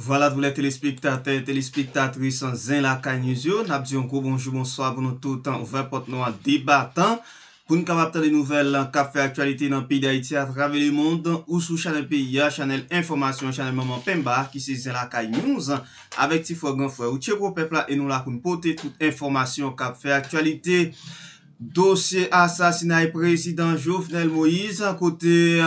Vwala tou lè telespektatè, telespektatris Zen Lakay News yo, n ap di yon gwo bonjou, bonswa pou nou tout, ouvè pòt nou an de batan pou n kapab tande nouvèl k ap fè aktyalite nan peyi Dayiti atravè lemond ou sou chanèl peyi a, chanèl enfòmasyon, chanèl manman penba ki se Zen Lakay News avèk ti frè gran frè ou Tcheko pèp la e nou la pou n pote tout enfòmasyon k ap fè aktyalite. Dosye asasinay prezidan Jovenel Moise kote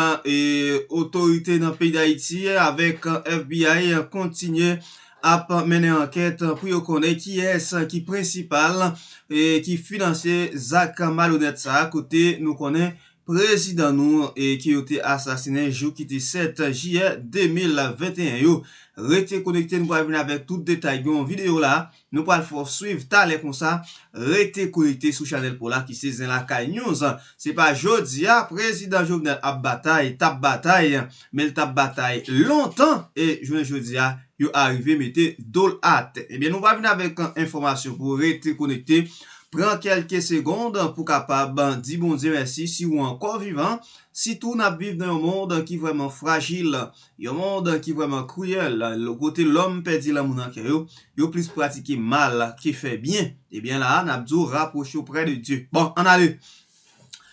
otorite nan peyi Dayiti avèk FBI kontinye ap mennen ankèt pou yo konnen kiyès ki prensipal ki finanse zak malonèt sa kote nou konnen prezidan nou ke yo te asasinen jou ki te 7 jiyè 2021 yo. Rete konekte nou pral vin avèk tout detay gen yon video la Nou pral fè w swiv talè konsa rete konekte sou chanèl paw la ki se Zen Lakay News. Se pa jodia prezidan Jovenel ap batay, tap batay, men l tap batay lontan e jounen jodia yo arive mete do l atè. Ebyen nou pral vin avèk enfòmasyon pou ou rete konekte, pran kèlke segond pou kapab di Bondye mèsi si ou ankò vivan, sitou nap viv nan yon mond ki vrèman frajil Yon mond ki vrèman kriyèl, kote lòm pèdi lanmou nan kè yo, yo plis pratike mal ke fè byen. Ebyen la a nap di w rapwoche w prè de Dye. Bon, ann ale!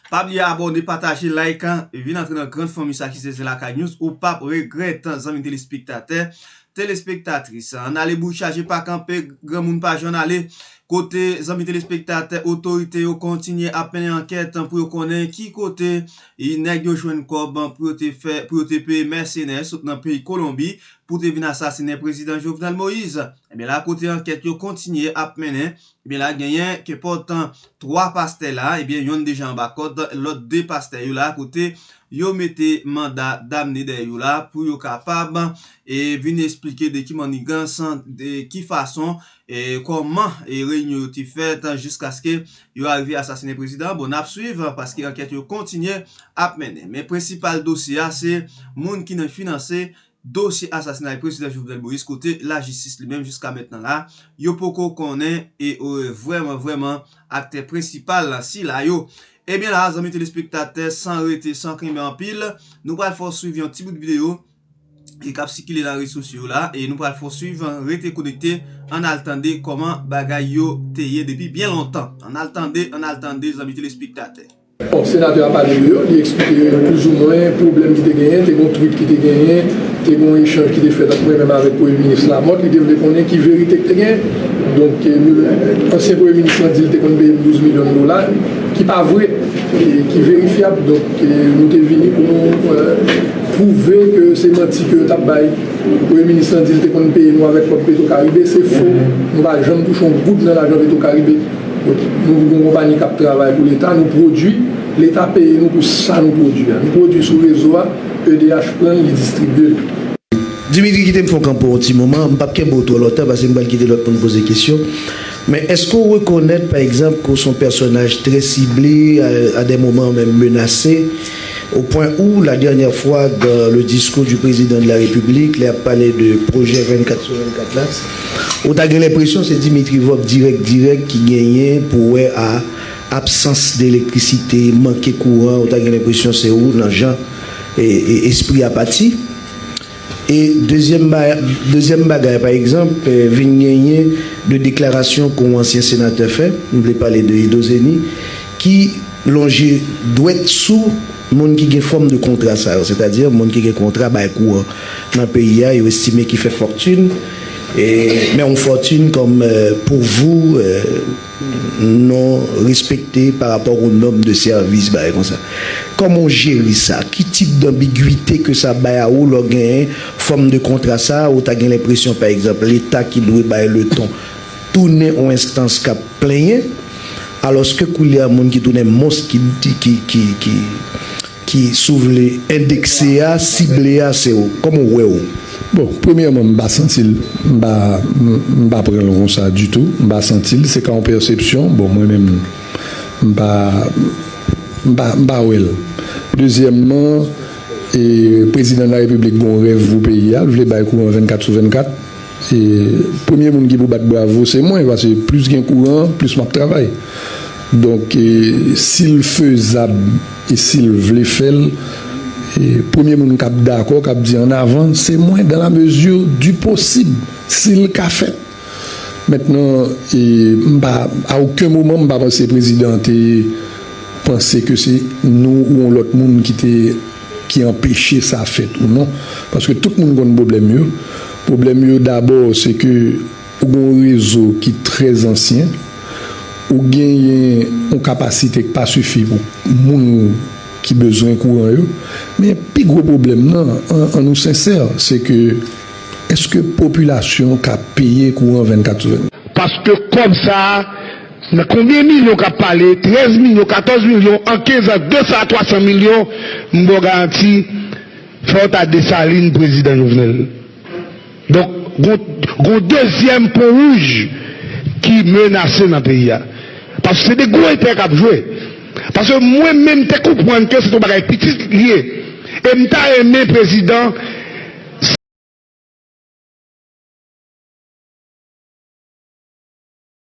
Pa bliye abòne, pataje, like, vin antre nan grand fanmi sa ki se ZenLakayNews, ou pap regrèt zanmi telespektatè, telespektatris. Ann ale bouch chaje pa kanpe, granmoun pa jan ale, kote zanmi telespektatè, otorite yo kontinye ap mennen ankèt pou yo konnen ki kote Ii nèg yo jwenn kòb pou yo te fè pou yo te peye mèsenè sot nan peyi Kolonbi pou te vin asasinen prezidan Jovenel Moïse. Ebyen la kote ankèt yo kontinye ap mennen, ebyen la genyen kenpòt 3 pastè la, ebyen yonn deja anba kòd, lòt 2 pastè yo la kote yo mete manda damne dèyè yo la pou yo kapab vin esplike de ki mannigans, de ki fason E kòman e reyinyon yo te fèt jiskaske yo arive asasinen prezidan an? Bon, nap swiv paske ankèt yo kontinye ap mennen. Men prensipal dosye a se moun ki nan finanse dosye asasinay prezidan Jovenel Moïse kote lajistis li menm jiska mentnan la yo poko konnen e vrèman vrèman aktè prensipal sila yo. Ebyen la zanmi telespektatè san rete san kenbe anpil nou pral fè w swiv yon ti bout videyo e kap sikile nan rezo sosyo la e nou pral fon swiv rete konekte ann al tande kòman bagay yo te ye depi byen lontan ann al tande ann al tande zanmi telespektatè. Bon senatè a pale de yo li eksplike yo plouzoumwen pwoblèm ki te genyen te gon twit ki te genyen te gon echanj ki te fèt ant mwen menm avèk premye minis Lamòt li te vle konnen ki verite ki te genyen donk ansyen premye minis lan di li te konn peye m 12 milyon dola ki pa vre e ki verifyab donk nou te vini pou nou Pwouve ke se manti ke yo tap bay. Premye minis lan di li te konn peye nou avèk kòb petro karibe, se fo. Nou pa janm touche yon goud nan lajan petro karibe. Nou yon konpayi kap travay pou leta, nou pwodwi, leta peye nou pou sa nou pwodwi a. Nou pwodwi sou rezo a, edh pran li distribye li. Dimitri kite m fè yon kanpo yon ti moman, m pap kenbe w twò lontan pase m pral kite lòt moun poze kesyon. Men èske w rekonèt pa egzanp ke w se yon pèsonaj trè sible, a dè moman menm menase? Au point où la dernière fois dans le discours du Président de la République lè ap pale de projet 24 sur 24 la ou ta gen lenpresyon se Dimitri Vorbe dirèk dirèk ki genyen pou wè a absans de elektrisite, manke kouran ou ta gen lenpresyon se ou nan jan espri a pati. E dezyèm bagay, pa egzanp, vin genyen de deklarasyon ke yon ansyen senatè fè, m vle pale de Edo Zeni, ki lonje dwèt sou moun ki gen fòm de kontra sa yo, sètadi moun ki gen kontra bay kou an nan peyi a, yo estime ki fè fòktin, men yon fòtin kòm pouvou. non respekte pa rapò ak yon nòm de sèvis bagay konsa kòman ou jere sa ki tip danbigwite ke sa bay a ou lè w genyen fòm de kontra sa ou ta gen lenpresyon pa egzanp leta ki dwe bay le ton tounen yon enstans kap plenyen alòske koulye a moun ki tounen mons ki ki Ki si w vle endekse a, sible a se w. Kòman w wè w? Bon, premyèman m pa santi l, m pa m pa pran l konsa ditou. M pa santi l, se ka yon pèsepsyon. Bon mwen menm m pa m pa m pa wè l. Dezyèmman, e Prezidan Larepiblik gen yon rèv pou peyi a, l vle bay kouran 24 sou 24. E premye moun ki pou bat bravo se mwen paske plis gen kouran plis map travay donk sil fezab e sil vle fèl premye moun kap dakò kap di an avan se mwen dan la mezi di posib sil ka fèt mentnan e mpa a oken moman mpa panse prezidan te panse ke se nou ou yon lòt moun kite. ki anpeche sa fèt ou non paske tout moun konn pwoblèm yo pwoblèm yo dabò se ke ou gen yon rezo ki trè ansyen ou genyen yon kapasite k pa sifi pou moun ki bezwen kouran yo men pi gwo pwoblèm nan an nou sensè se ke èske popilasyon ka peye kouran 24 sou 24. Paske kòb sa. Nan konbyen milyon kap pale, 13 milyon, 14 milyon, an 15 ans 200 a 300 milyon, m baw garanti fòw ta Dessalines prezidan Jovenel. Donk gon gon dezyèm pon wouj ki menase nan peyi a. Paske se 2 gwo entèrè kap jwe. Paske mwen menm te konprann ke se t on bagay pitit li ye. E m ta renmen prezidan.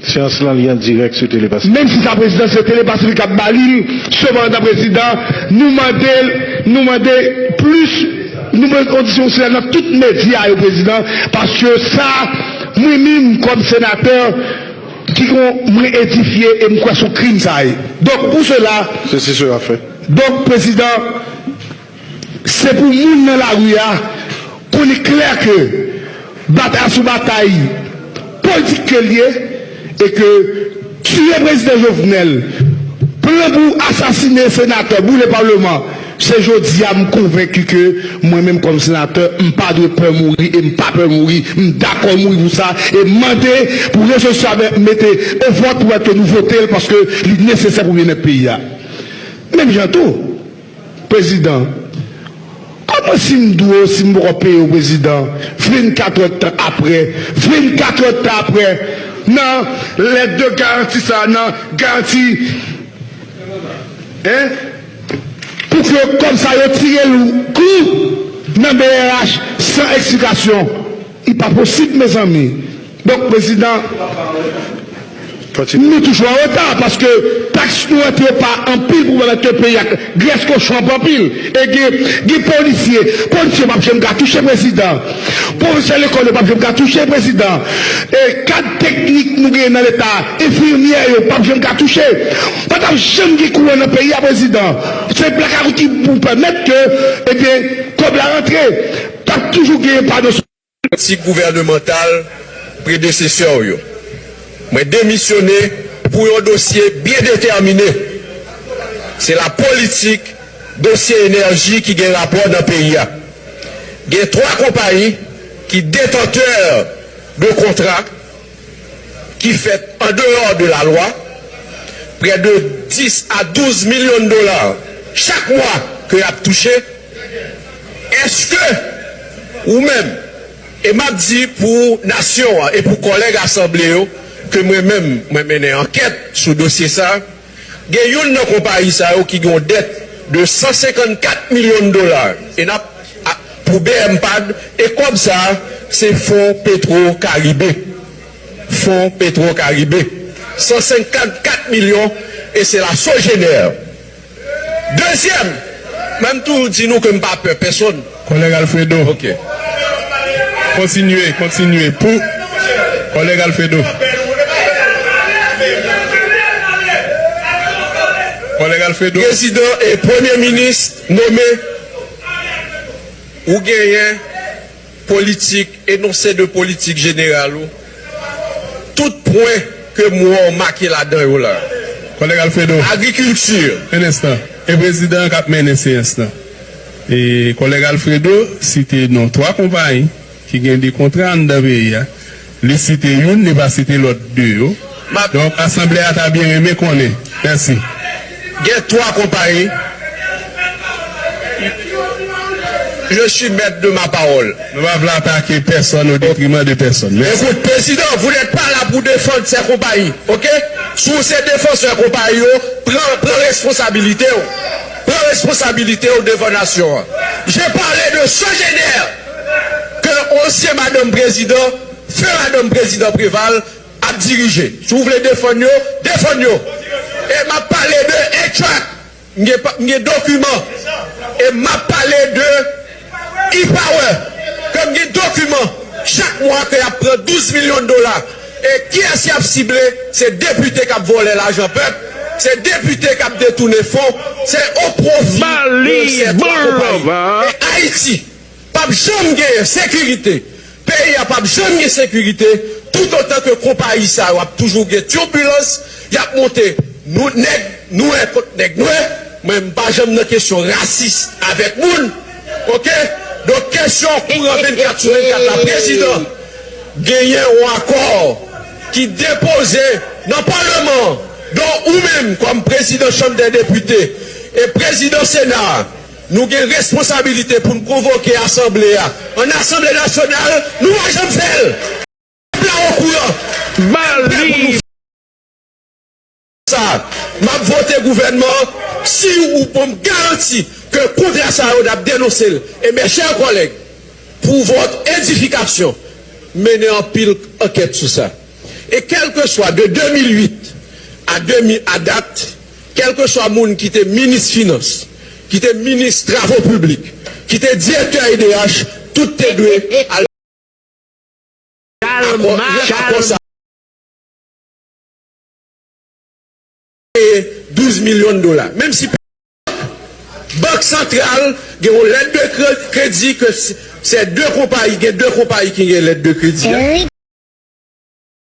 Seyans lan li an dirèk sou Telepasi. Menm si sa prezidan se Telepasi li kap ba li l seman antan prezidan, nou mande l, nou mande plis, nou mande kondisyon sila nan tout medya yo prezidan paske sa mwen minm kòm senatè ki kon mwen edifye e m kwè son krim sa ye. Donk pou sela, Sesi sela fèt. donk prezidan. Se pou moun nan lari a konnen klè ke batay a se yon batay politik ke l ye e ke tiye Prezidan Jovenel, plan pou asasine senatè, boule Parlement, se jodi a m konvenki ke mwen menm kòm senatè m pa dwe pè mouri e m pa pè mouri, m dakò mouri pou sa e m mande pou rezolisyon sa mete o vòt pou wè ke nou vote l paske li nesesè pou byennèt peyi a. Menm jan tou. Prezidan, Kòman si m dwe w si m poko peye w prezidan, vin katòd tan aprè, vin katòd tan aprè nan lèt de garanti sa a nan garanti 1 pou ke kòb sa yo tire l kou nan brh san eksplikasyon. Li pa posib mezanmi donk prezidan Nou toujou an reta paske tax Nou an te pa anpil pou malad ke peyi a grès kochon ap anpil e gen gen polisye polisye pap janm ka touche prezidan profesè lekòl yo pap janm ka touche prezidan e kad teknik Nou gen nan leta enfimyè yo pap janm ka touche pa tap janm gen kouran nan peyi a prezidan se blakawout ki pou pèmèt ke ebyen kòb la rantre Tap toujou gen pa nan sou. Tik gouvènemantal predesesè w yo. Mwen demisyone pou yon dosye byen detèmine. Se la politik dosye enèji ki gen rapò nan peyi a. Gen 3 konpayi ki detantè de kontra ki fèt an deyò de la lwa. Prè de 10 a 12 milyon dola chak mwa ke yap touche. Eske ou menm, e map di pou nasyon an e pou kòlèg asanble yo ke mwen menm mwen mennen ankèt sou dosye sa, gen youn nan konpayi sa yo ki gen yon dèt de 154 milyon dola e nap pou bmpad e kòb sa se fon petro karibe fon petro karibe 154 milyon e se la sogener. Dezyèm, mwen m toujou di nou ke m pa pè pèsonn. Kòlèg Alfredo, Ok. Kontinye, kontinye pou Kòlèg Alfredo. Kòlèg Alfredo. Prezidan e Premye Minis nome, ou genyen. Politik, enonse de politik jeneral ou, tout pwen ke m wè w make ladan yo la a. Kòlèg Alfredo, Agrikilti. Yon enstan. E prezidan an k ap mennen seyans lan. E kòlèg Alfredo site non twa konpayi ki gen de kontra anndan peyi a. Li site youn, li pa site lòt 2 yo. Donk, asanble a ta byen renmen konnen. Mèsi. Gen 3 konpayi. Je suis maître de ma parole. Nou pa vle atake pèsonn odetriman de pèsonn. Mèsi. Écoute, Président, vous n'êtes pas là pour défendre ces compagnies, ok? Si w se defansè konpayi yo, pran, pran responsabilite w. Pran responsabilite w devan nasyon an. J'ai parlé de Sogener! ke ansyen madanm prezidan, feu madanm prezidan Preval, ap dirije. Si w vle defann yo, defann yo! E m ap pale de Etrac, m gen pa, m gen dokiman. E m ap pale de E-Power, ke m gen dokiman. Chak mwa ke y ap pran 12 milyon dola. E kiyès y ap sible? Se depite k ap vòlè lajan pèp, se depite k ap detounen fon, se o pwofi de sè twa konpayi. E Ayiti? Pap janm genyen sekirite, peyi a pap janm gen sekirite tout otan ke konpayi sa yo ap toujou gen tirbilans, yap monte nou nèg nwè kont nèg nwè, mwen m pa janm nan kesyon rasis avèk moun ok, donk kesyon kouran 24 sou 24 la prezidan genyen yon akò ki depoze nan paleman an donk ou menm kòm prezidan chanm dè depite e prezidan sena a. Nou gen responsabilite pou n konvoke asanble a an asanble nasyonal nou pa janm fè l pèp la okouran nan pè pou nou fè sa m ap vote gouvènman an si ou ban m garanti ke kontra sa yo n ap denonse l e mè chè kòlèg pou vòt edifikasyon mennen anpil ankèt sou sa e kèlkeswa de 2008 a 2000 a dat. Kèlkeswa moun ki te minis finans, ki te minis travo piblik, ki te direktè edh, tout te dwe al akò lè akò sa peye 12 milyon dola. Menm si pèp bank santral gen yon lèt de kredi ke se de konpayi gen de konpayi ki gen lèt de kredi a.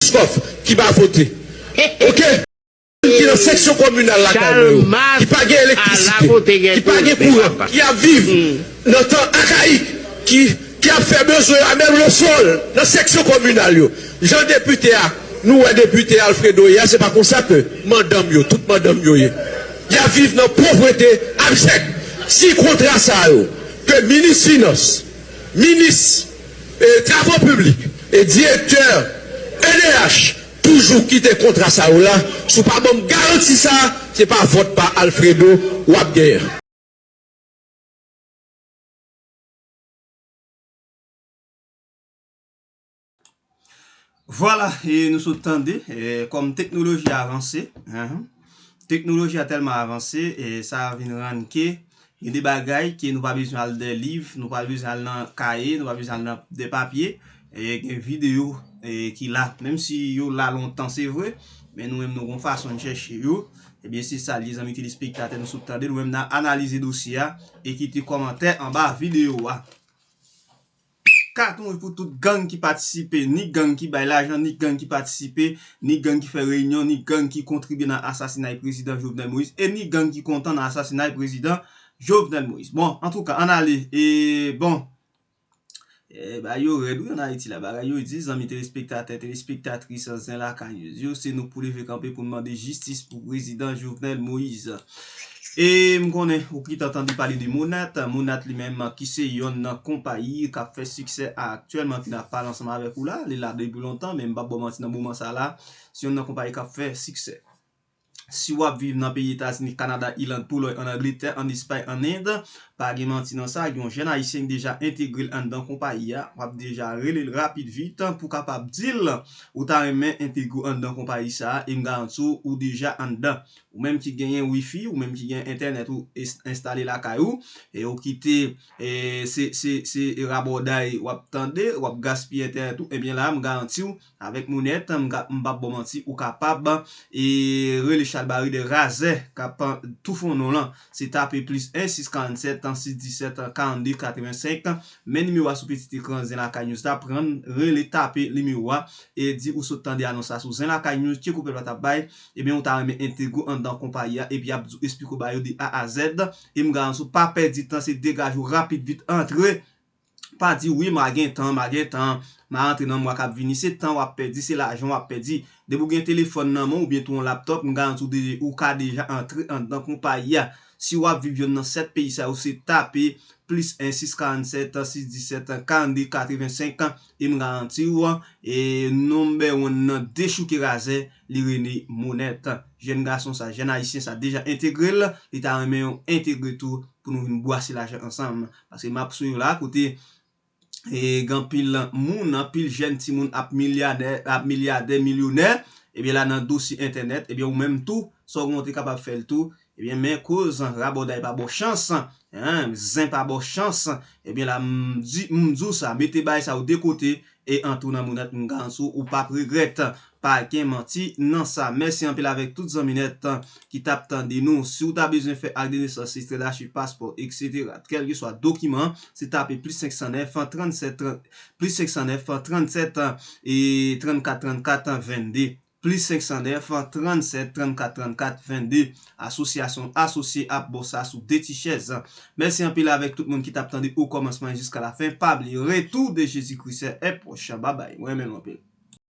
Biscoff ki pa vote ok. Moun ki nan seksyon kominal lakay mwen yo ki pa gen elektrisite, ki pa gen kouran, ki ap viv nan tan akayik, ki ap fè bezwen a menm le sol nan seksyon kominal yo. Jan depite a nou wè depite Alfredo ye a se pa konsa ke mandanm yo, tout mandanm yo ye. Y ap viv nan povrete abjèk. Si kontra sa yo ke minis finans, minis. Travo piblik e direktè edh toujou kite kontra sa yo la si w pa banm garanti sa se pa vòt pa Alfredo wap genyen. Vwala e nou sot tande kòm teknoloji a avanse teknoloji a tèlman avanse e sa vin rann ke gen de bagay ke nou pa bezwen al dè liv nou pa bezwen al nan kaye nou pa bezwen al nan de papye e gen video ki la menm si yo la lontan se vre men nou menm nou gon fason nou chèche yo ebyen se sa li zanmi telespektatè nou sot tande nou menm nan analize dosye a e kite kòmantè anba video a. Pfff katon wi pou tout gang ki patisipe, ni gang ki bay lajan, ni gang ki patisipe, ni gang ki fè reyinyon, ni gang ki kontribye nan asasinay prezidan Jovenel Moïse, e ni gang ki kontan nan asasinay prezidan Jovenel Moïse. Bon, antouka, ann ale, e bon. Eey bagay yo rèd wi an Ayiti la, bagay yo di, zanmi telespektatè, telespektatris Zen Lakay News yo, se nou k pou leve kanpe pou n mande jistis pou prezidan Jovenel Moïse. E m konnen ou pito tande pale de Monat, Monat li menm ki se yonn nan konpayi k ap fè siksè aktyèlman ki nan ap pale ansanm avèk ou la, li la depi lontan men m p ap ba w manti nan moman sa la se yonn nan konpayi k ap fè siksè. Si w ap viv nan peyi Etazini, Kanada, Iland, Polòy, ann Angletè, ann Espay, ann End, pa gen manti nan sa, gen yon jèn Ayisyen ki deja entegre l anndan konpayi a, w ap deja rele l rapid vit pou w kapab di l ou ta renmen entegre w anndan konpayi sa a e m garanti w ou deja anndan. Ou menm ki genyen wifi, ou menm ki gen entènèt ou enstale lakay ou, e ou kite se rabòday w ap tande, w ap gaspiye entènèt ou, ebyen la a m garanti w, avèk Mounette, m p ap ba w manti, ou kapab rele chalbari de razè k ap toufe w non lan. Se tape plis 1 647 617 42 85, men nimewo a sou pitit ekran Zen Lakay News la, pran, rele, tape nimewo a, e di ou sot tande anons la sou Zen Lakay News, tcheko pèp la t ap bay, Ebyen ou ta renmen entegre anndan konpayi a epi yap di w esplike w ba yo de A a Z e m garanti w pa pèdi tan se degaje w rapid vit antre pa di wi ma gen tan ma gen tan ma antre nan mwa kap vini se tan wap pèdi se lajan wap pèdi depi w gen telefòn nan men w oubyen tou yon laptòp m garanti w de ou ka deja antre anndan konpayi a si wap viv yonn nan 7 peyi sa yo se tape plis 1 647 617 42 85 e m garanti w e number one nan dechouke razè Li rene Monette. Jèn gason sa, jèn Ayisyen sa deja entegre l, li ta renmen yo entegre tou pou nou vin bwase lajan ansanm. Paske map sou yo la kote gen anpil moun, anpil jèn timoun ap milyanè, ap milyadè, milyonè, ebyen la nan dosye entènèt, ebyen ou menm tou, sa w gen w te kapab fè l tou, Ebyen men koz rabòday pa baw chans hein zen pa baw chans ebyen la m di m di w sa mete baay sa yo de kote e antre w nan mounèt m garanti w ou pap regrèt pa gen manti nan sa mèsi anpil avèk tout zanmi nèt ki tap tande nou si w ta bezwen fè ak de nesans ekstrè dachiv paspò etc kèlkeswa dokiman se tape plis 509 37 30 plis 509 37 ee 34 34 22 Plis 509 37 34 34 22 Asosyasyon asosye ap baw sa sou de ti chèz. Mèsi anpil avèk tout moun ki tap tande o kòmansman jiska la fen pa bliye retou de Jezi Kris è pwòch babay mwen renmen nou anpil.